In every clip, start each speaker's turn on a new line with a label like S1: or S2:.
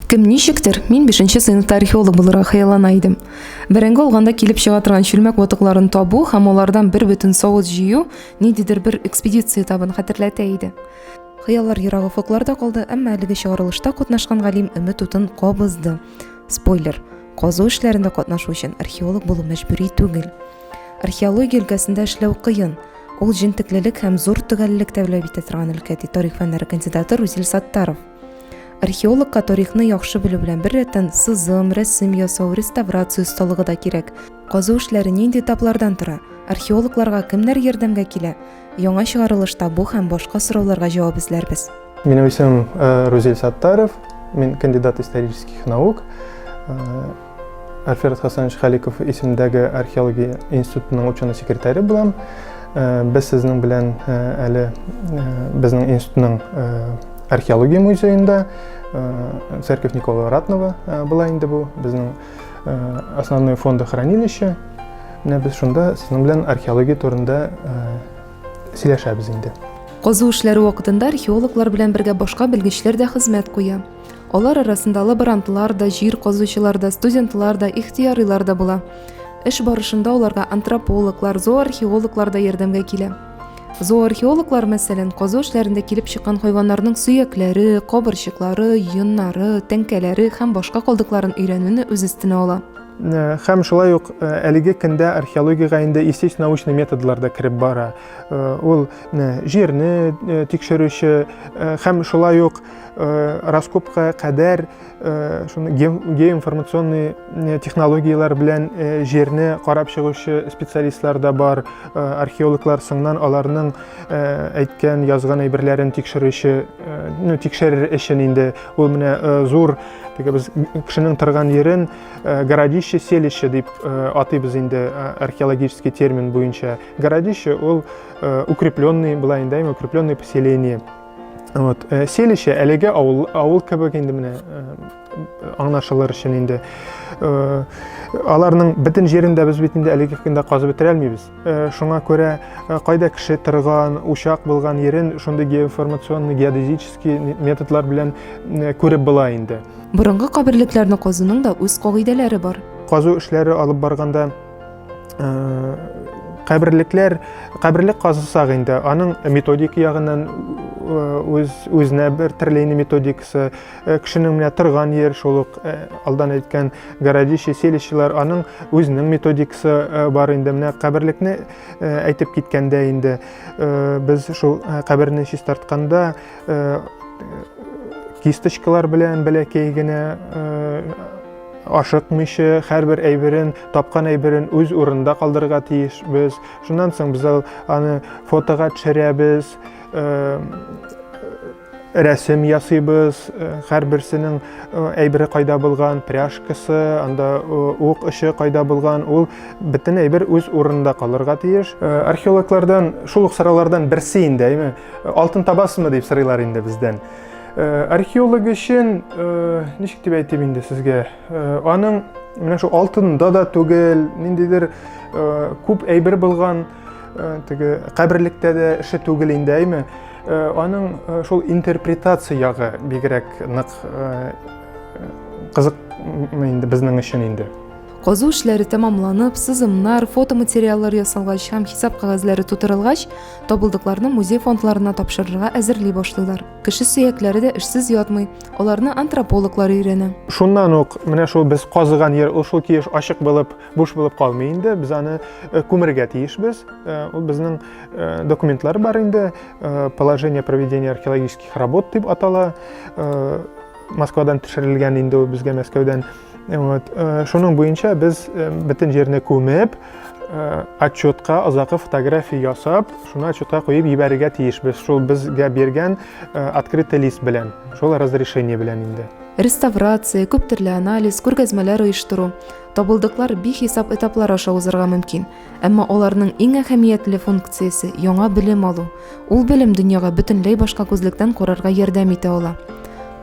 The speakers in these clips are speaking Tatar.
S1: Кем ничектер, мин бишенче сыйныфта археолог булырга хыяллана идем. Бәрәңге алганда килеп чыга торган чүлмәк ватыкларын табу һәм алардан бер бөтен савыт җыю ниндидер бер экспедиция табын хәтерләтә иде. Хыяллар ерак офыкларда калды, әмма әлеге чыгарылышта катнашкан галим өмет утын кабызды. Спойлер, казу эшләрендә катнашу өчен археолог булу мәҗбүри түгел. Археология өлкәсендә эшләү кыен. Ул җентеклелек һәм зур төгәллек тәвләп итә торган өлкә, ди тарих фәннәре кандидаты Рузил Саттаров. Археологка тарихны яхшы белү белән бер рәттән сызым, рәсем ясау, реставрация осталыгы да кирәк. Казу эшләре нинди этаплардан тора? Археологларга кемнәр ярдәмгә килә? Яңа чыгарылышта бу һәм башка сорауларга җавап эзләрбез. Минем исемем
S2: э, Рузель Саттаров, мин кандидат исторических наук. Э, Альферд Хасанович Халиков исемдәге археология институтының ученый секретаре булам. Э, без сезнең белән э, әле э, безнең институтның археология музеенда церковь Николая Ратного была инде бу безнең основной фонда хранилище. Менә без шунда сезнең белән археология турында сөйләшәбез инде. Казу эшләре
S1: вакытында археологлар белән бергә башка белгечләр дә хезмәт куя. Алар арасында лаборантлар да, җир казучылар да, студентлар да, ихтиярилар да була. Эш барышында аларга антропологлар, зооархеологлар да ярдәмгә килә. Зооархеологлар, мәсәлән, казу эшләрендә килеп чыккан хайваннарның сөякләре, кабырчыклары, йоннары, тәңкәләре һәм башка калдыкларын өйрәнүне үз өстенә ала. Э, һәм шулай
S2: ук э, әлеге көндә археологиягә инде исеш научный методлар да кереп бара э, ул җирне тикшерүче һәм шулай ук э, раскопка кадәр э, шуны геоинформационный э, технологияләр белән э, җирне карап чыгучы специалистлар да бар, э, археологлар соңнан аларның э, әйткән, язган әйберләрен тикшерүче, э, ну, тикшерер өчен инде ул менә э, зур теге без кешенең торган җирен э, городище селище дип э, атыйбыз инде э, археологический термин буенча. Городище ул э, укрепленный, была инде укрепленный поселение. Вот, э, селище әлеге авыл, авыл кебек инде менә э, аңлашылыр өчен инде. Э, аларның бөтен җирен дә без бит инде әлеге көндә казып бетерә алмыйбыз. Э, шуңа күрә э, кайда кеше торган, учак булган ерен шундый геоинформационный, геодезический методлар белән э, күреп була инде. Борынгы каберлекләрне
S1: казуның да үз кагыйдәләре бар. Казу эшләре алып
S2: барганда Э, каберлекләр каберлек казысак инде аның методик ягыннан э, үз үзенә бер терлейни методикасы э, кешенең менә торган җир шул ук алдан әйткән городище селищелар аның үзенең методикасы бар инде менә каберлекне әйтеп киткәндә инде без шул каберне чистартканда кисточкалар белән бәләкәй генә Ашыкмыйча, һәрбер әйберен, тапкан әйберен үз урынында калдырырга тиешбез. Шуннан соң без аны фотога төшерәбез, рәсем ясыйбыз, һәрберсенең әйбере кайда булган, пряжкасы, анда ук очы кайда булган, ул бөтен әйбер үз урынында калырга тиеш. Археологлардан шул ук сораулардан берсе инде, әйме? Алтын табасымы дип сырыйлар инде бездән. Э, археолог өчен, э, ничек дип әйтим инде сезгә, э, аның менә шул алтында да түгел, ниндидер күп әйбер булган теге каберлектә дә эше түгел инде, әйме? Аның шул интерпретация ягы бигрәк нык кызык инде безнең өчен инде. Казу эшләре
S1: тәмамланып, сызымнар, фотоматериаллар ясалгач һәм хисап кагазьләре тутырылгач, Табылдыкларны музей фондларына тапшырырга әзерли башлыйлар. Кеше сөякләре дә эшсез ятмый, аларны антропологлар өйрәнә. Шуннан ук менә
S2: шул без казыган җир ул шул тиеш ачык булып, буш булып калмый инде. Без аны э, күмергә тиешбез. Э, ул безнең э, документлар бар инде. Положение проведения археологических работ дип атала. Москвадан төшерелгән инде ул безгә Мәскәүдән Вот. Э, шуның буенча без э, бөтен җирне күмеп, э, отчетка озакы фотография ясап, шуны отчетка куеп ебәрергә тиешбез. Шул безгә биргән открытый лист белән, шул разрешение белән инде. Реставрация,
S1: күп төрле анализ, күргәзмәләр оештыру, табылдыклар бихисап этаплар аша узарга мөмкин. Әмма аларның иң әһәмиятле функциясе яңа белем алу. Ул белем дөньяга бөтенләй башка күзлектән карарга ярдәм итә ала.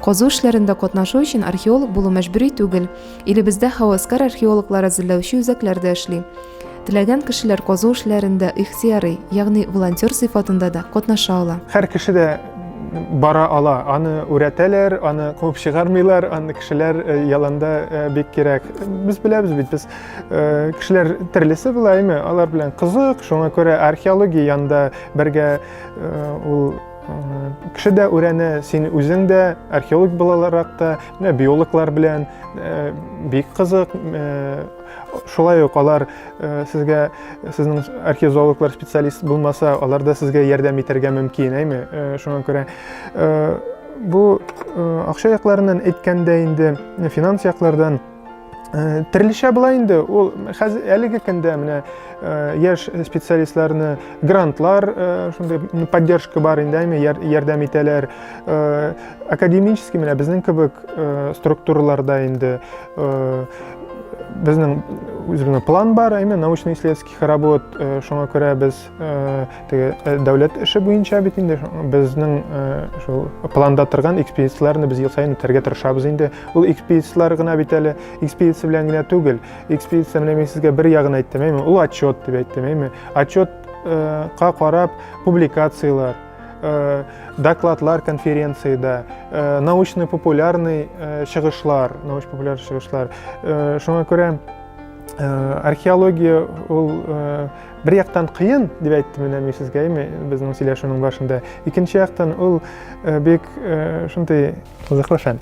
S1: Казу эшләрендә катнашу өчен археолог булу мәҗбүри түгел. Илебездә һәвәскәр археологлар әзерләүче үзәкләр дә эшли. Теләгән кешеләр казу эшләрендә ихтыярый, ягъни волонтер сыйфатында да катнаша ала. Һәр кеше дә
S2: бара ала. Аны үрәтәләр, аны куып чыгармыйлар, аны кешеләр э, яланда э, бик кирәк. Без беләбез бит, без Э, кешеләр төрлесе була әйме алар белән кызык шуңа күрә археология янында бергә э, ул э, кеше дә үрәне син үзең дә археолог буларак та менә биологлар белән бик кызык шулай ук алар сезгә сезнең археозоологлар специалист булмаса алар да сезгә ярдәм итәргә мөмкин әйме шуңа күрә бу акча якларыннан әйткәндә инде финанс яклардан Э, Терлешә була инде, ул хәзер әлеге көндә менә э, яшь специалистларны грантлар, э, шундый поддержка бар инде, әйме ярдәм итәләр. Академический менә безнең кебек структураларда инде безнең үзебезнең план бар, әйме научно-исследовательских работ, шуңа күрә без Э, теге э, дәүләт эше буенча бит инде безнең э, шул планда торган экспедицияләрне без ел саен үтәргә тырышабыз инде ул экспедицияләр гына бит әле экспедиция белән генә түгел экспедиция менә мин сезгә бер ягын әйттем әйме ул отчет дип әйттем әйме отчетка карап публикациялар докладлар конференцияда научный популярный чыгышлар научно популяр чыгышлар шуңа күрә археология ул Бер яктан кыен, дип әйтте менә мин сезгә, әйме, безнең сөйләшүнең башында. Икенче яктан ул э, бик э, шундый кызыклы фән.